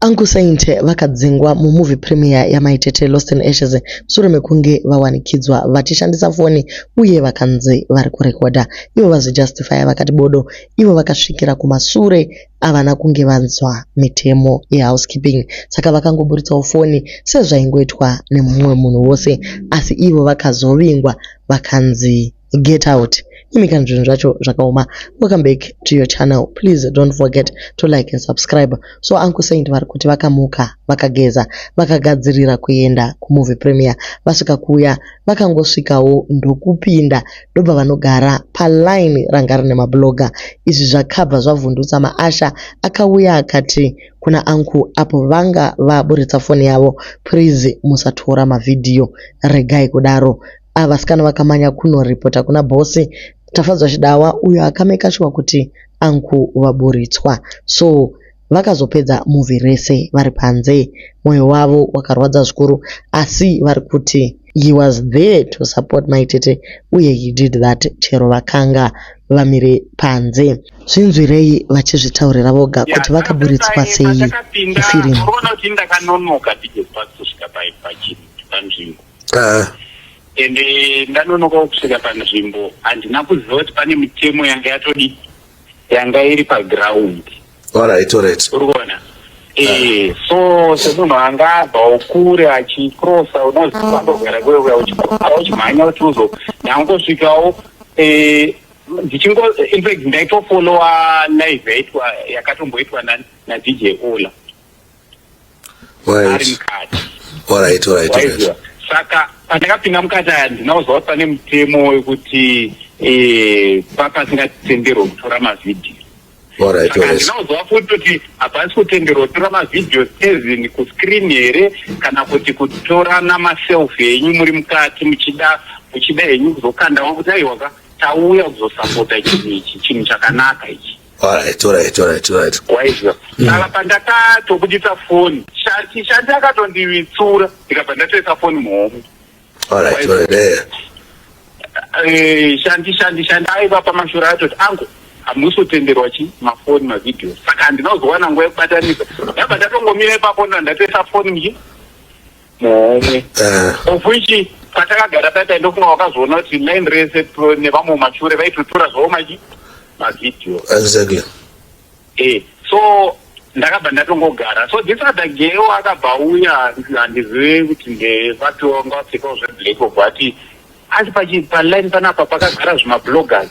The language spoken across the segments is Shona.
Uncle Saint vakadzingwa mumovie premiere yaMai Tete Lost in Ashes mushure mekunge vawanikidzwa vachishandisa foni uye vakanzi vari kurekodha ivo vazvijustifya vakati bodo ivo vakasvikira kumasure avana kunge vanzwa mitemo yehousekeeping saka vakangoburitsawo foni sezvaingoitwa nemumwe munhu wose asi ivo vakazovingwa vakanzi get out imi kana zvinhu zvacho zvakaoma welcome back to your channel please don't forget to like and subscribe so uncle saint vari kuti vakamuka vakageza vakagadzirira kuenda kumovie premier vasvika kuya vakangosvikawo ndokupinda ndobva vanogara paline ranga rine mabloga izvi zvakabva zvavhundutsa maasha akauya akati kuna anku apo vanga vaburitsa foni yavo please musatora mavhidhiyo regai kudaro Ava vasikana vakamanya kuno reporter kuna boss Tafadzwa Chidawa uyo aka maker sure kuti uncle vaburitswa. So vakazopedza movie rese vari panze. Moyo wavo wakarwadza zvikuru asi vari kuti he was there to support my tete uye he did that chero vakanga vamire panze. Zvinzwirei vachizvitaurira voga kuti vakaburitswa sei mufirimu. Ndakanonoka ndibve pasi kusvika paipachiri panzvimbo. uh. and eh, ndanonoka kusvika panzvimbo handina kuziva kuti pane mitemo yanga yatodi yanga iri paground alright alright uri kuona ee eh, so semunhu anga abvawo kure achikrosa unozifambogara kuye kuya uchikrosa uchimhanya kuti uzo ndangosvikawo eh, ndichingo infact ndaitofolowa live yaitwa yakatomboitwa nadj ola ari mukati alright alright alright saka pandakapinda mukati aya ndinakuziva kuti pane mutemo wekuti eh, papasingatenderwe kutora mavhidhiyo ndinauziva futi kuti hapasi kutenderwa kutora mavhidhiyo sezin kuscreen here kana kuti kutora namaselfi henyu muri mukati muchida muchida henyu kuzokandawa kuti aiwaka tauya kuzosapota chinhu ichi chinhu chakanaka ichi Alright, alright, alright, alright. waizwa saka pandatatobudisa foni shati shati akatondivitsura ndikabva ndatoisa foni muhomo Alright, alright. Eh. Eh, shandi shandi shandi aiva pamashura atoti angu hamusi kutenderwa chi mafoni mavhidhiyo saka handina kuzowana nguva yekubatanisa ndabva ndatongomira ipapo nda- ndatoisa foni mji muhomwe uh. of which patakagara paya taindofunga wakazoona kuti main rese nevamwe mumashure vaitotora zvavo maji mavideo exactly e so ndakabva ndatongogara so this other geo akabva uya handizive kuti ndevatowanga vapfekawo zveblack obva ati asi paline panapa pakagara zvimabloggers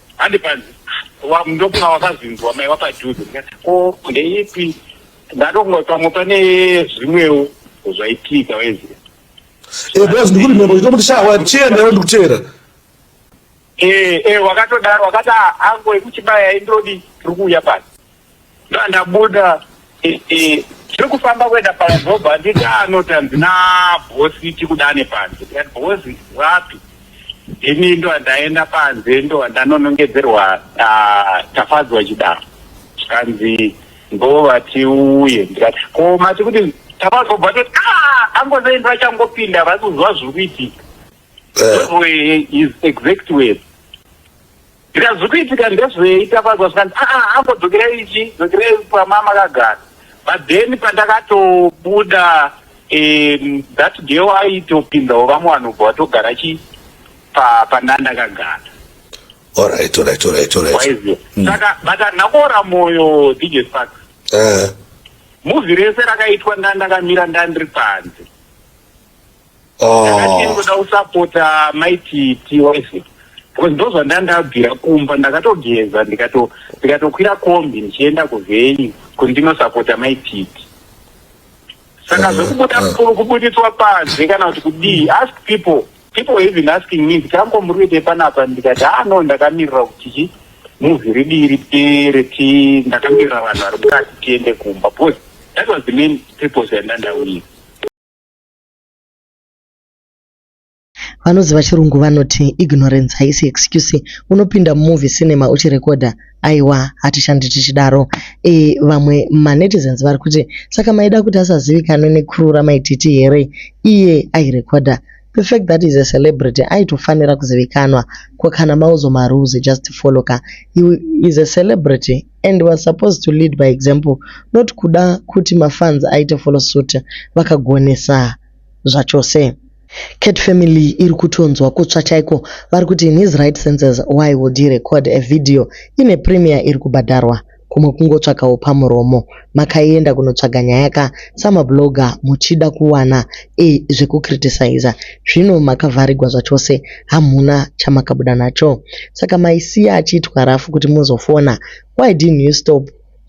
handipanzi ndokunga wakazinzwa mai wapadhuze ko ndeipi ndatonga pamwe pane zvimwewo zvaitika waiziva eh, bas ndikuti mhepo chitomuti shawa chiendawo ndikuteera eh, eh, wakatodaro wakati ah, ango ekuchibaya indodi tiri kuuya pasi Ndandabuda tiri kufamba kuenda paadhobha handiti anoti hanzi nabhosi tikudane panze bhosi wapi ini ndo andaenda panze ndo andanonongedzerwa ah, tafadzwa chidaro zvikanzi ndo vatiuye ndikati ko mati kuti tafadzwa bva toti ah, angozaini vachangopinda vari kuziva zviri kuitika eh. is exact word Zvikanzi zviri kuitika ndezvei Tafadzwa zvikanzi aa ah, ah, ambodzokerei ichi dzokerei pama makagara but then pandakatobuda um, that girl aitopinzawo vamwe vanobva vatogara chi pandandakagara alright alright alright alright hmm. saka vakanhakoora moyo dj spark eh. muvi rese rakaitwa ndandakamira ndandiri panze ndakatinoda kusapota maiti tiwise because ndozvanda ndabvira kumba ndakatogeza ndikatokwira kombi ndichienda kuvhenyu kuti ndinosapota maititi saka zvekubuda eh, eh. kubuditswa panze kana kuti kudii ask people people even asking me kuti ango muri kuite panapa ndikati haa no ndakamirira kuti chi muvi ridii ripere ti ndakamirira vanhu vari mukati tiende kumba because that was the main purpose yandandauia vanoziva chirungu vanoti ignorance haisi excuse unopinda mumovie cinema uchirekodha aiwa hatishandi tichidaro e, vamwe manetizens vari kuti saka maida kuti asazivikanwe necrew ramaititi here iye airekodha the fact that is a celebrity aitofanira kuzivikanwa ko kana mauzo marules just follow ka he is a celebrity and was supposed to lead by example not kuda kuti mafans aite follow suit vakagonesa zvachose. Cat family iri kutonzwa kutsva chaiko vari kuti in his right senses why would he record a video ine premier iri kubhadharwa kumwe kungotsvakawo pamuromo makaenda kunotsvaga nyaya ka sama blogger muchida kuwana e zveku criticiser zvino makavharigwa zvachose hamhuna chamakabuda nacho saka maisiya achiitwa raf kuti muzofona why didn't you stop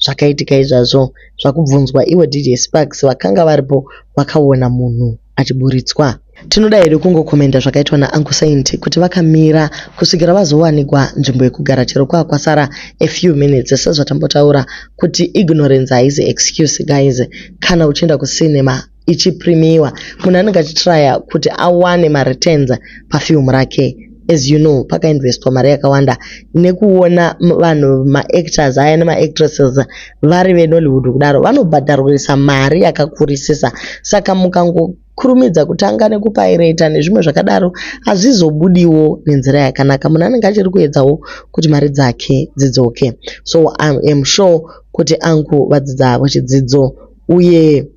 zvakaitika izvazvo zvakubvunzwa iwe DJ Sparks vakanga varipo vakaona munhu achiburitswa. Tinoda hedu kungokomenda zvakaitwa naUncle Saint kuti vakamira kusvikira vazowanikwa nzvimbo yekugara chero kwava kwasara a few minutes sezvatambotaura kuti ignorance haizi excuse guys. Kana uchienda kucinema ichiprimiwa munhu anenge achitryer kuti awane mareturns pafilm rake. as you know pakainvestwa mari yakawanda nekuona vanhu maactors aya nemaactresses vari venollywood kudaro vanobhadharwisa mari yakakurisisa saka mukangokurumidza kutanga nekupaireta nezvimwe zvakadaro hazvizobudiwo nenzira yakanaka munhu anenge achiri kuedzawo kuti mari dzake dzidzoke so iam sure kuti angu vadzidza havo chidzidzo uye